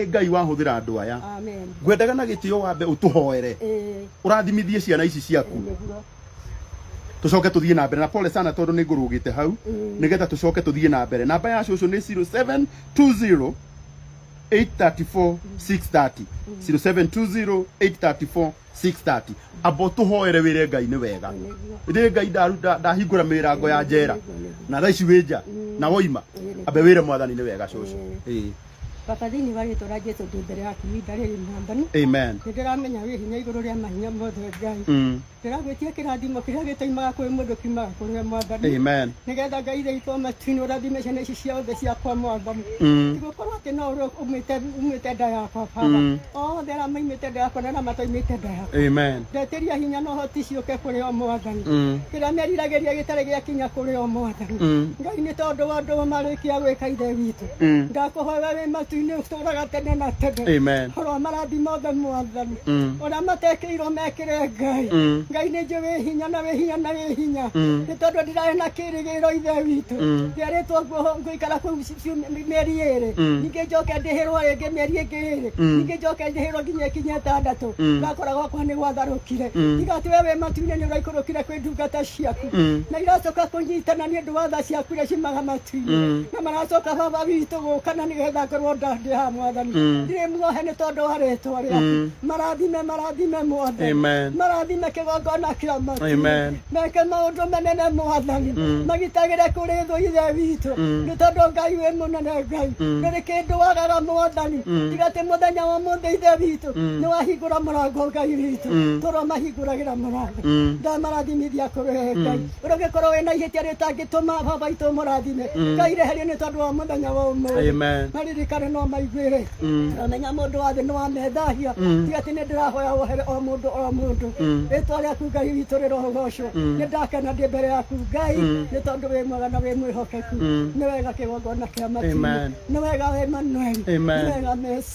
Ĩ ngai wahũthĩra andũ aya Amen. ngwendaga na gĩtĩo wambe ũtũhoere Eh, ũrathimithie ciana ici ciaku nĩguo. tũcoke tũthiĩ na mbere na pole sana tondũ nĩ ngũrũgĩte hau Mm. nĩgetha tũcoke tũthiĩ na mbere namba ya cũcũ nĩ 0720 834 630 0720 834 6:30 abo tuhoere wire ngai ni wega ndi ngai ndaru- nda- ndahingura mirango ya njera na thaa ici wi nja na woima ambe wire mwathani ni wega cucu Ĩĩ. baba thĩinĩ wa rĩtwa rĩa jesu ndĩ mbere yaku ihinda rĩrĩ mwathani amen nĩ ndĩramenya wĩ hinya igũrũ rĩa mahinya mothe ngai Mm. ndĩragwĩtia kĩrathimo kĩrĩa gĩtaimaga kwĩ mũndũ kiumaga kũrĩ we mwathani amen nĩgetha ngai iria itũ matini ũrathime ciana ici ciothe ciakwa mwamba Mm. tigũkorwo atĩ no ũrĩa umĩte umĩte nda yakwa baba Mm. othe arĩa maimĩte nda yakwa na arĩa mataimĩte nda yakwa Amen. ndetiria hinya na ũhoti ciũke kũrĩ o mwathani Mm. kĩrĩa meriragĩria gĩtarĩ gĩakinya kũrĩ o mwathani Mm. ngai nĩ tondũ wa ũndũ marĩkia gwĩka ithe witũ Mm. ndakũhoya wĩ matu-inĩ ũtũũra gatene na tene Amen. ũrĩa marathi mothe mwathani Mm. ũrĩa matekĩirwo mekĩre ngai Mm. ngai nĩ njĩ wĩ hinya na wĩ hinya na wĩ hinya Mm. nĩ tondũ ndirarĩ na kĩrĩgĩrĩro ithe witũ Mm. ndĩarĩtwo nguo- ngũikara kũu ci- ciumia- mĩeri ĩrĩ Mm. ningĩ njoke ndĩhĩrwo rĩngĩ mĩeri ĩngĩ ĩrĩ Mm. ningĩ njoke ndĩhĩrwo nginya ikinya ĩtandatũ Mm. ndakora gwakwa nĩ gwatharũkire Mm. tiga atĩ we wĩ matu-inĩ nĩ ũraikũrũkire kwĩ ndungata ciaku na iracoka kũnyitana nĩ ũndũ wa tha ciaku iria cimaga matu-inĩ na maracoka baba witũ gũkana nĩ getha ngorwo ndandĩ ha mwathani ndirĩ muohe nĩ tondũ wa rĩtwa rĩaku marathime marathime mwathani Amen. marathime kĩgongona kĩa matu Amen. meke maũndũ manene mwathani magitagĩre kũrĩ thũ ithe witũ nĩ tondũ ngai wĩ mũnene ngai ndũrĩ kĩndũ wagaga mwathani tiga atĩ mũthenya wa mũthĩ ithe witũ nĩ wahingũra mũrango ngai witũ tũromahingũragĩra mũrango Mm. ndamarathimithia kũrũhe ngai ũrĩa ũngĩkorwo wĩna ihĩtia rĩtangĩtũma baba itũ mũrathime ngai reherio nĩ tondũ wa mũthenya wa ũmũthĩ Amen. maririkane no maiguĩre amenya mũndũ wa thĩ nĩ wamethahia tiga atĩ nĩ ndĩrahoya wohere o mũndũ o mũndũ rĩtwa rĩaku ngai witũ rĩrohogocwo nĩ ndakena ndĩ mbere yaku ngai nĩ tondũ wĩ mwega na wĩ mwĩhokeku nĩ wega kĩgongona kĩa matinĩ Amen. nĩ wega wĩ manueli Amen. nĩ wega mesi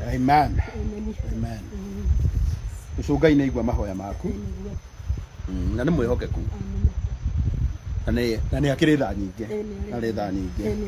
amen Amen. amen Amen. ũcũ ngai nĩ aigua mahoya maku Amen. Mm, na nĩ mwĩhokeku Amen. na nĩ- na nĩ akĩrĩ tha nyingĩ Amen. arĩ tha nyingĩ Amen.